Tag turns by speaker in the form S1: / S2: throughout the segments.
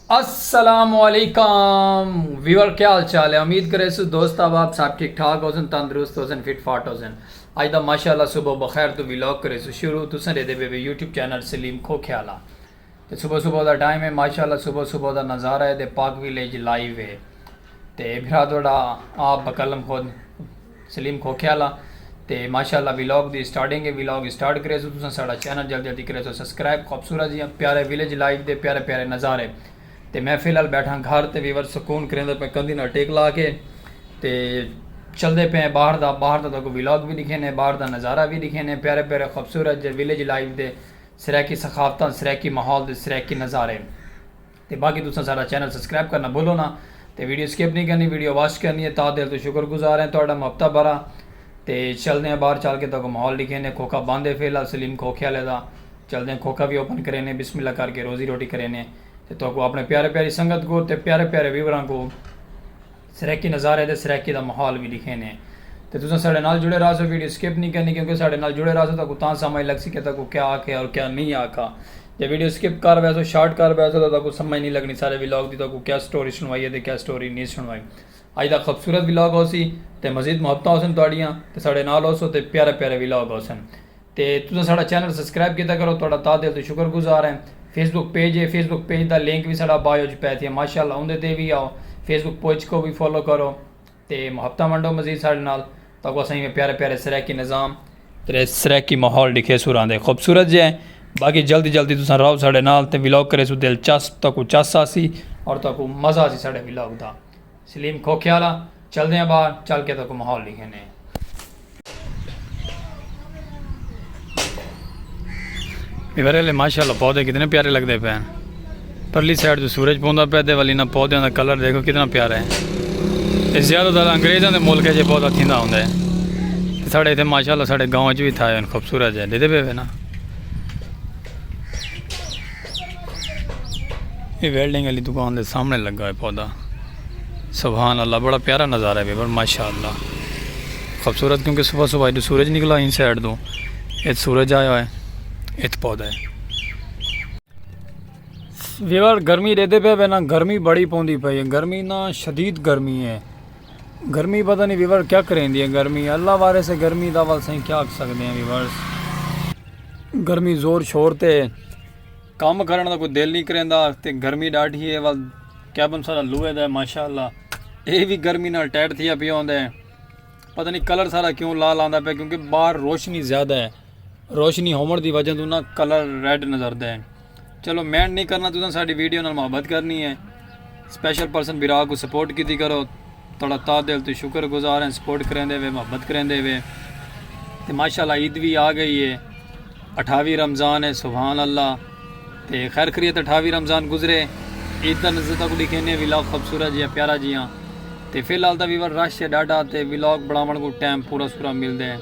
S1: السلام علیکم ویور کیا حال چال ہے امید کرے سو دوست آب آپ صاحب ٹھیک ٹھاک ہو سن تندرست ہو سن فٹ فاٹ ہو سن آج دا ماشاءاللہ صبح بخیر تو ویلوگ کرے سو شروع تو سن دے بے بے یوٹیوب چینل سلیم کھو کھیالا تے صبح صبح دا ٹائم ہے ماشاءاللہ صبح صبح دا نظارہ ہے تے پاک ویلیج لائیو ہے تے بھرا تہاڈا آپ بقلم خود سلیم کھوکھے والا تے ماشاءاللہ ویلاگ دی سٹارٹنگ ہے ویلاگ سٹارٹ کرے سو تساں ساڈا چینل جلدی جلدی کرے سو سبسکرائب خوبصورت جی پیارے ویلیج لائیو دے پیارے پیارے نظارے تے میں فی الحال بیٹھا گھر تے ویور سکون کریندے پے کندھی نال ٹیک لا کے تے چلدے پے باہر دا باہر دا تہاکوں ویلاگ وی دکھینے باہر دا نظارہ وی دکھینے پیارے پیارے خوبصورت جے ویلیج لائیو دے سرائیکی ثقافتاں، سرائیکی ماحول دے سرائیکی نظارے۔ تے باقی تساں ساڈا چینل سبسکرائب کرنا بھلو نا تے ویڈیو سکپ نی کرنی ویڈیو واچ کرنی ہے تاں دل توں شکر گزار ہیں تہاڈا محبتاں بھرا تے چلدے ہیں باہر چل کے تہاکوں ماحول ڈکھیندے کھوکھا بند ہے فی الحال سلیم کھوکھے آلے دا چلدے ہیں کھوکھا وی اوپن کریندے بسم اللہ کر کے روزی روٹی کریندے ہیں تے تہاکوں اپنے پیارے پیاری سنگت کوں تے پیارے پیارے ویوراں کوں۔ سرائیکی نظارے تے سرائیکی دا ماحول وی ڈکھینے تے تساں ساڈے نال جڑے راہسو ویڈیو سکپ نی کرنی کیونکہ ساڈے نال جڑے راہسو تہاکوں تاں سمجھ لگسی کہ تہاکوں کیا آکھیا اور کیا نی آکھا جے ویڈیو سکپ کر ویسو شارٹ کر ویسو تاں تہاکوں سمجھ نی لگنی سارے ولاگ دی تہاکوں کیا سٹوری سنوائی ہے تے کیا سٹوری نی سنوائی اج دا خوبصورت ولاگ ہوسی تے مزید محبتاں ہوسن تہاڈیاں تے ساڈے نال ہوسو تے پیارے پیارے ولاگ ہوسن تے تساں ساڑا چینل سبسکرائب کیتا کرو تہاڈا تہہ دل توں شکر گزار ہیں فیس بک پیج ہے فیس بک پیج دا لنک وی ساڈا بائیو اچ پے تھیا ماشاءاللہ اوندے تے وی آؤ فیس بک پوج کوں وی فالو کرو تے محبتاں ونڈو مزید ساڈے نال تاکوں اساں ایویں پیارے پیارے سرائیکی نظام تے سرائیکی ماحول ڈکھیسوں راندے خوبصورت جے باقی جلدی جلدی تساں راؤ ساڈے نال تے ولاگ کریسوں دلچسپ تاکوں چس آسی اور تاکوں مزہ آسی ساڈے ولاگ دا۔ سلیم کھوکھے آلا چلدے آں باہر چل کے تہاکوں ماحول ڈکھیندے آں۔ ایورے لے ماشاءاللہ پودے کتنے پیارے لگدے پئے ہن پرلی سائیڈ توں سورج پوندا پئے تے ول انہاں پودیاں دا کلر ڈیکھو کتنا پیارا ہے اے زیادہ تر انگریزاں دے ملک اچ اے پودا تھیندا ہوندا ہے تے ساڈے ایتھے ماشاءاللہ ساڈے گاؤں اچ وی تھائے ہن خوبصورت جیہے ڈیدھے پئے وے نا۔ اے ویلڈنگ علی دکان دے سامنے لگا ہے پودا سبحان اللہ بڑا پیارا نظارہ ہے بیبر ماشاءاللہ خوبصورت کیونکہ صبح صبح ایڈو سورج نکلا ان سائڈ دو ایت سورج آیا ہے ایت پودا ہے ویور گرمی دے دے پہ وینا گرمی بڑی پوندی پہ گرمی نا شدید گرمی ہے گرمی پتہ نہیں ویورز کیا کریندی ہے گرمی اللہ وارث ہے گرمی دا ول سائیں کیا آکھ سکدے ہیں ویورز۔ گرمی زور شور تے کم کرن دا کوئی دل نہیں کریندا تے گرمی ڈاڈھی ہے ول کیبن سارا لوہے دا ہے ماشاءاللہ اے وی گرمی نال ٹائٹ تھیا پیا ہوندا ہے پتہ نہیں کلر سارا کیوں لال آندا پیا کیونکہ باہر روشنی زیادہ ہے روشنی ہومر دی وجہ توں نا کلر ریڈ نظر دے ہیں۔ چلو مینڈ نہیں کرنا تساں ساڈی ویڈیو نال محبت کرنی ہے سپیشل پرسن برا کو سپورٹ کیتی کرو تڑا تا دل تو شکر گزار ہیں سپورٹ کریں دے وے محبت کریں دے وے تے ماشاءاللہ عید بھی آ گئی ہے اٹھاوی رمضان ہے سبحان اللہ تے خیر خریت اٹھاوی رمضان گزرے عید دا نزدہ کو لکھینے ویلاگ خوبصورت جیا پیارا جیا تے فی الحال دا ویور رش ہے ڈاڈا تے ویلاگ بڑھاون کو ٹائم پورا سورا مل دے ہیں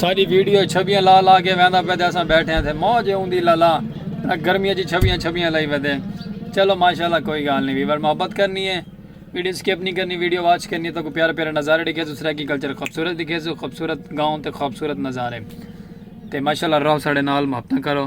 S1: ساݙی ویڈیو چھبیاں لا لا کے ویندا پئے تے اساں بیٹھے ہاں تھے موج ہے اوندی لالا گرمیاں چ چھبیاں چھبیاں لائی ویندے چلو ماشاءاللہ کوئی گال نہیں ویور محبت کرنی ہے ویڈیو اسکپ نہیں کرنی ویڈیو واچ کرنی ہے تو پیارے پیارے نظارے دکھے سو سرائیکی کلچر خوبصورت دکھے سو خوبصورت گاؤں تے خوبصورت نظارے تے ماشاءاللہ رہو ساڑے نال محبتاں کرو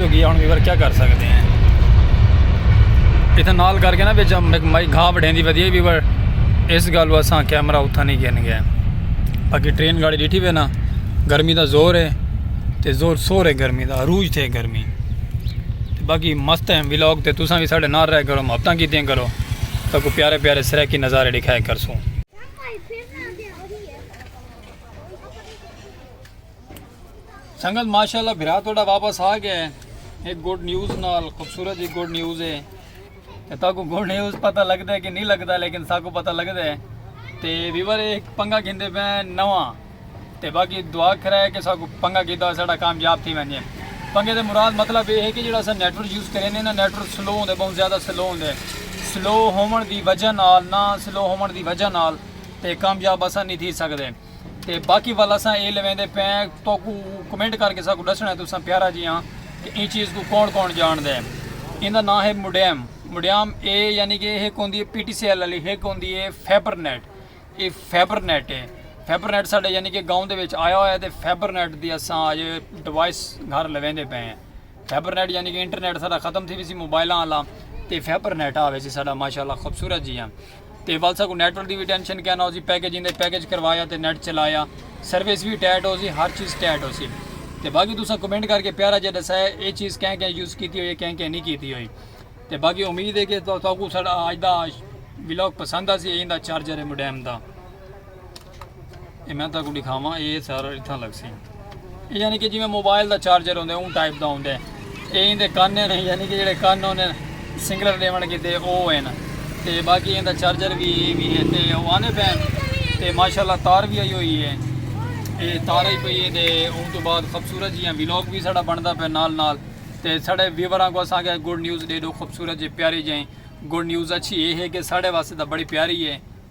S1: ہوگی ہن ویور کیا کر سکدے ہیں اتھے نال کر کے نا وچ مائی گھا وڈھیندی ودی ویور اس گالو اساں کیمرہ اتھا نہیں گن گئے باقی ٹرین گاڑی ڈیٹھی پہ نا گرمی دا زور ہے تے زور سور ہے گرمی دا عروج تھے گرمی تے باقی مست ہیں ویلاگ تے تساں بھی ساڈے نال رہ کرو محبتاں کیتیاں کرو تو کو پیارے پیارے سرائیکی نظارے دکھائے کرسوں سنگت ماشاءاللہ بھرا توڑا واپس آ گیا ہے ایک گوڈ نیوز نال خوبصورت ایک گوڈ نیوز ہے کہ تا کو گوڈ نیوز پتہ لگ دے کہ نہیں لگ دا لیکن سا کو پتہ لگ دے تے ویور ایک پنگا گھن دے بین نوان تے باقی دعا کھرا ہے کہ سا کو پنگا گھن دا ساڑا کامیاب تھی بین جائے پنگے دے مراد مطلب یہ ہے کہ جڑا سا نیٹور یوز کریں دے نا نیٹور سلو ہوں دے بہن زیادہ سلو ہوں دے سلو ہومن دی وجہ نال نا سلو ہومن دی وجہ نال تے کامیاب اسا نہیں تھی سکتے تے باقی ول اساں اے لویندے پئے آں توکوں کمنٹ کر کے ساکوں ڈسنڑاں ہے تساں پیارا جیاں کہ ایں چیز کوں کون کون جانڑ دے ایندا ناں ہے مڈیم مڈیم اے یعنی کہ ہک ہوندی ہے پی ٹی سی ایل والی ہک ہوندی ہے فیبر نیٹ اے فیبر نیٹ ہے فیبر نیٹ ساڈے یعنی کہ گاؤں دے وچ آیا ہویا تے فیبر نیٹ دی اساں اج ڈیوائس گھر لویندے پئے ہیں فیبر نیٹ یعنی کہ انٹرنیٹ سارا ختم تھی ویسی موبائلاں والا تے فیبر نیٹ آوے سی ساڈا ماشاءاللہ خوبصورت جیاں تے ول ساکوں نیٹ ورک دی وی ٹینشن کینا ہوسی پیکج ایندے پیکج کروایا تے نیٹ چلایا سروس وی ٹیٹ ہوسی ہر چیز ٹیٹ ہوسی تے باقی تساں کمنٹ کر کے پیارا جے ڈسا ہے اے چیز کہیں کہیں یوز کیتی ہوئی ہے کہیں کہیں نہیں کیتی ہوئی تے باقی امید ہے کہ تساکوں ساڈا اج دا ولاگ پسند آسی ایندا چارجر ہے مڈیم دا اے میں تہاکوں ݙکھاواں اے سر اتھاں لڳسی۔ اے یعنی کہ جیویں موبائل دا چارجر ہوندے اوں ٹائپ دا ہوندے۔ اے ایندے کن ہن یعنی کہ جیڑھے کن ہوندے سنگلر ݙیوݨ کیتے او ہن۔ تے باقی ایندا چارجر وی وی ہے تے او آندے پئے ہن۔ تے ماشاءاللہ تار وی آئی ہوئی ہے۔ اے تار آئی پئی ہے تے اوں توں بعد خوبصورت جیاں ولاگ وی ساݙا بݨدا پئے نال نال۔ تے ساݙے ویوراں کوں اساکیا گڈ نیوز ݙیݙو خوبصورت جے پیاری جئیں۔ گڈ نیوز اچھی اے ہے کہ ساݙے واسطے تاں بڑی پیاری ہے۔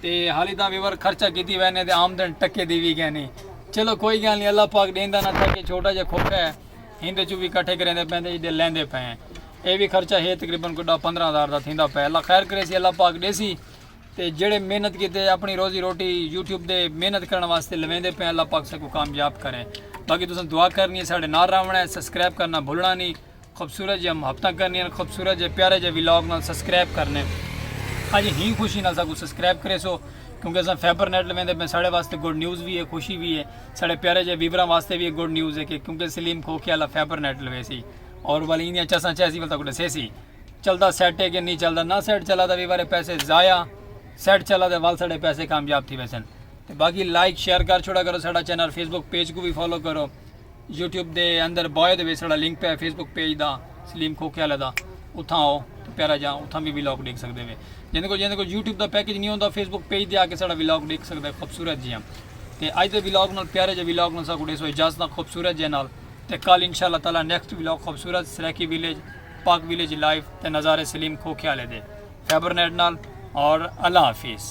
S1: تے حالی تاں ویور خرچہ کیتی وے نے تے آمدن ٹکے دی وی گینی چلو کوئی گال نی اللہ پاک ڈیندا نہ تھکے چھوٹا جا کھوکھا ہے ہیندے چوں وی کٹھے کریندے پئیں تے ایڈے لیندے پئیں اے وی خرچہ ہے تقریبا کوئی ڈاہ پندرہ ہزار دا تھیندا پئے اللہ خیر کریسی اللہ پاک ڈیسی تے جیڑھے محنت کیتے اپنی روزی روٹی یوٹیوب دے محنت کرن واسطے لویندے پئیں اللہ پاک ساکوں کامیاب کرے باقی تساں دعا کرنی ہے ساڈے نال راونڑا ہے سبسکرائب کرنا بھلنا نی خوبصورت جیاں محبتاں کرنیاں خوبصورت جے پیارے جے ویلاگ نال سبسکرائب کرنے اج ہی خوشی نال ساکو سبسکرائب کرے سو کیونکہ اساں فیبر نیٹ لویندے پہ ساڑے واسطے گڈ نیوز بھی ہے خوشی بھی ہے ساڑے پیارے جے ویبراں واسطے بھی گڈ نیوز ہے کہ کیونکہ سلیم کھوکھے والا فیبر نیٹ لوے سی اور والی انہیاں چساں چیسی والا کو ڈسے سی چلدا سیٹ ہے کہ نہیں چلدا نہ سیٹ چلا دا ویبرے پیسے ضائع سیٹ چلا دے وال ساڑے پیسے کامیاب تھی ویسن باقی لائک شیئر کر چھوڑا کرو ساڑا چینل فیس بک پیج کو بھی فالو کرو یوٹیوب دے اندر بایو دے وچ ساڑا لنک پیا ہے فیس بک پیج دا سلیم کھوکھے والے دا اتھاں آؤ تو پیارا جاں اتھاں بھی ولاگ ڈیکھ سکدے وے جیندے کو جیندے کو یوٹیوب دا پیکج نہیں ہوندا فیس بک پیج دے آ کے ساڑا ولاگ ڈیکھ سکدے خوبصورت جیاں تے اج دے ولاگ نال پیارے جے ولاگ نال ساکو ڈیسو اجازتاں خوبصورت جے نال تے کل انشاءاللہ تعالی نیکسٹ ولاگ خوبصورت Saraiki village Pak village life تے نظارے سلیم کھوکھے والے دے فیبرنیٹ نال اور اللہ حافظ